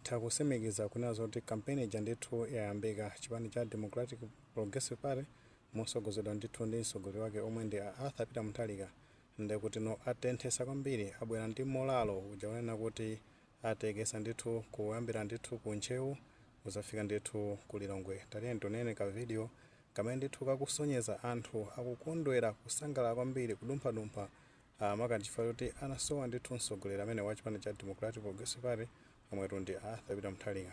Titha kusimikiza kunena zoti campaign ija ndithu yayambika. Chipani cha Democratic Progressive Party mosogozedwa ndithu ndi msogoleri wake omwe ndi a Arthur Peter Mutharika ndekutino atenthesa kwambiri abwera ndi molalo uja kunena kuti atekesa ndithu kuyambira ndithu ku Ntcheu kuzafika ndithu ku Lilongwe. Tatiyeni tionere ka video kamene ndithu kakusonyeza anthu akukondwera kusangalala kwambiri kudumphadumpha a maka nchifukwa choti anasowa ndithu mtsogoleri ameneyu wa chipani cha Democratic Progressive Party omwetu ndi a Arthur Peter Mutharika.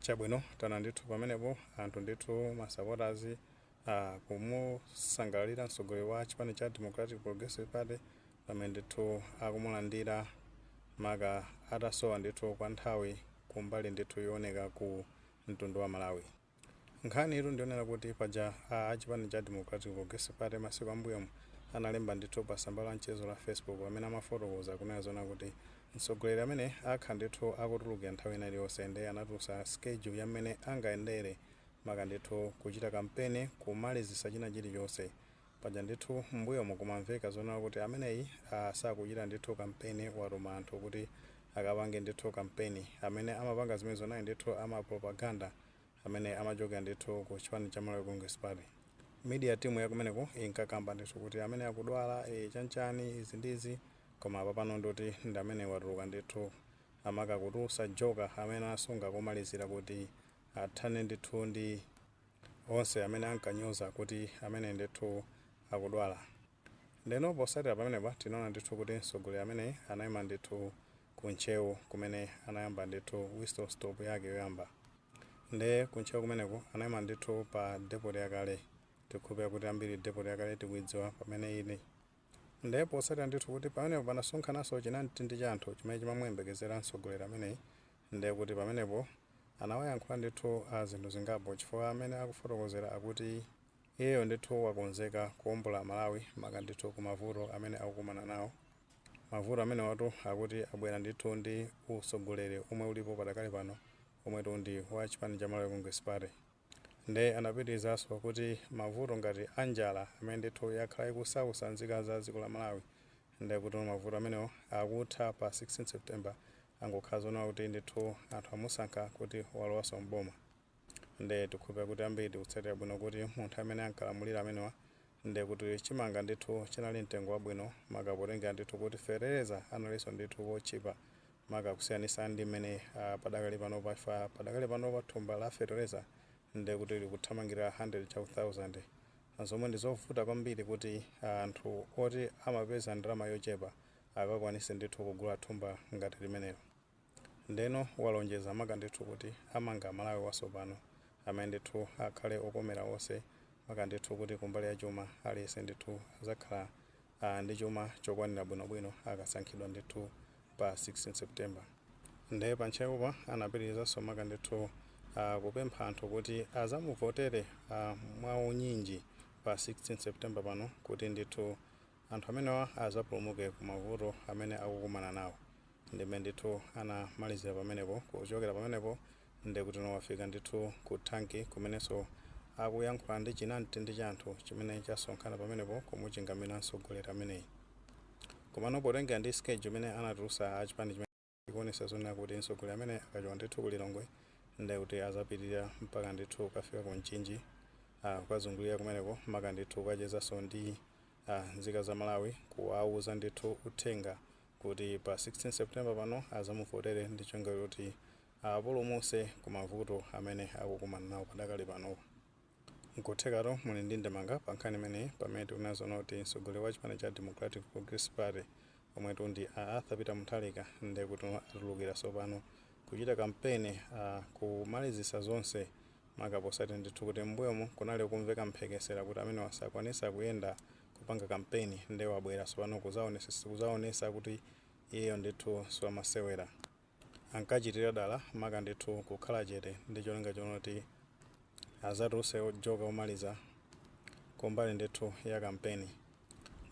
Chabwino taona ndithu pamenepo anthu ndithu masapota akumusangalalira mtsogoleri wa chipani cha Democratic Progressive Party pamene ndithu akumulandira maka atasowa ndithu kwa nthawi kumbali ndithu yooneka ku mtundu wa Malawi. Nkhaniyitu ndi yonena kuti paja a a chipani cha Democratic Progressive Party masiku ambuyomu analemba ndithu pa tsamba la mchezo la Facebook pamene amafotokoza kunena zoona kuti Mtsogoleri ameneyi akhala ndithu akutulukira nthawi ina iliyonse nde anatulusa schedule ya mmene angayendere maka ndithu kuchita kampeni kumalizisa china chilichonse paja ndithu mmbuyomu kumamveka zonena kuti ameneyi aah sakuchita ndithu kampeni watuma anthu kuti akapange ndithu kampeni amene amapanga zimenezo anali ndithu ama propaganda amene amachokera ndithu ku chipani cha Malawi Congress Party media team yakumeneko inkakamba ndithu kuti ameneyi akudwala ee chanichani izi ndi izi Koma apapano ndoti ndi mmene watuluka ndithu a maka kutulusa joker amene anasunga kumalizira kuti athane ndithu ndi onse amene ankanyoza kuti ameneyi ndithu akudwala. Ndeno posatira pamenepa tinaona ndithu kuti mtsogoleri ameneyi anaima ndithu ku Ntcheu kumene anayamba ndithu whistle stop yake yoyamba. Nde ku Ntcheu kumeneko anaima ndithu pa depoti yakale, tikukhulupira kuti ambiri depoti yakale tikuidziwa pamene ili. Ndiye potsatira ndithu kuti pamenepo panasonkhananso chinamtindi cha anthu chimene chimamuyembekezera mtsogoleri ameneyi, ndiye kuti pamenepo anawayankhula ndithu a zinthu zingapo chifukwa mmene akufotokozera akuti iyeyo ndithu wakonzeka kuombola Malawi maka ndithu ku mavuto amene akukumana nawo. Mavuto amenewatu akuti abwera ndithu ndi utsogoleri omwe ulipo padakali pano omwetu ndi wa chipani cha Malawi Congress Party. Nde anapitirizanso kuti mavuto ngati a njala amene ndithu yakhala ikusausa nzika za dziko la Malawi nde kutino mavuto amenewo akutha pa 16 September zikangokhala zoona kuti ndithu anthu amusankha kuti walowanso m'boma nde tikukhulupirira kuti ambiri tikutsatira bwino kuti munthu amene ankalamulira amenewa Nde kuti chimanga ndithu chinali mtengo wabwino maka potengera ndithu kuti fetereza analinso ndithu wotchipa maka kusiyanisa ndi mmene padakali panopa padakali panopa thumba la fetereza nde kuti likuthamangira 100 chaku thousand zomwe ndi zovuta kwambiri kuti anthu oti amapeza ndalama yochepa akakwanise ndithu kugula thumba ngati limenelo. Ndeno walonjeza maka ndithu kuti amanga Malawi wasopano amene ndithu akhale okomera onse maka ndithu kuti kumbali ya chuma aliyense ndithu azakhala ndi chuma chokwanira bwino bwino akasankhidwa ndithu pa 16 September. Nde pa Ntcheupa anapitilizanso maka ndithu kupempha anthu kuti azamuvotere mwaunyinji pa 16 September pano kuti ndithu Anthu amenewa azapulumuke ku mavuto amene akukumana nawo. Ndi mmene ndithu anamalizira pamenepo. Kuchokera pamenepo nde kuti no wafika ndithu ku thanki kumenenso akuyankhula ndi chinamtindi cha anthu chimene chasonkhana pamenepo kumuchingamira mtsogoleri ameneyi. Komano potengera ndi schedule imene anatulusa a chipani chimene. ikuonesa zoona kuti mtsogoleri ameneyi akachoka ndithu ku Lilongwe nde kuti azapitilira mpaka ndithu kukafika ku Mchinji ah kukazungulira kumeneko maka ndithu kukachezanso ndi ah nzika za Malawi kuwauza ndithu uthenga kuti pa 16 September pano azamuvotere ndi cholinga choti awapulumuse ku mavuto amene akukumana nawo padakali panopa. Nkuthekatu muli ndi ndemanga pa nkhani imeneyi pamene tikuona zoona kuti mtsogoleri wa chipani cha Democratic Progressive Party omwetu ndi a Arthur Peter Mutharika ndekuti atulukira tsopano kuchita kampeni kumalizitsa zonse maka potsatira ndithu kuti m'mbuyomu kunali kumveka mphekesera kuti amenewa sakwanitsa kuyenda kupanga kampeni nde wabwera tsopano kuzaonetsa kuti iyeyo ndithu siwamasewera. ankachitira dala maka ndithu kukhala chete ndi cholinga chonena kuti azatuluse joker omaliza kumbali ndithu ya kampeni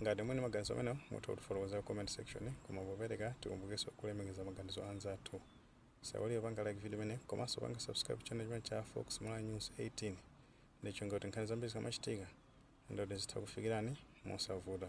ngati muli ndi maganizo amenewo mutha kutifotokozera mu comment section koma popereka tikumbukenso kulemekeza maganizo a anzathu osaiwala kupanga like video imeneyi komanso kupanga subscribe channel chimenechi cha fox malawi news 18 ndi cholinga kuti nkhani zambiri zikamachitika ndithu zitha kukufikirani mosavuta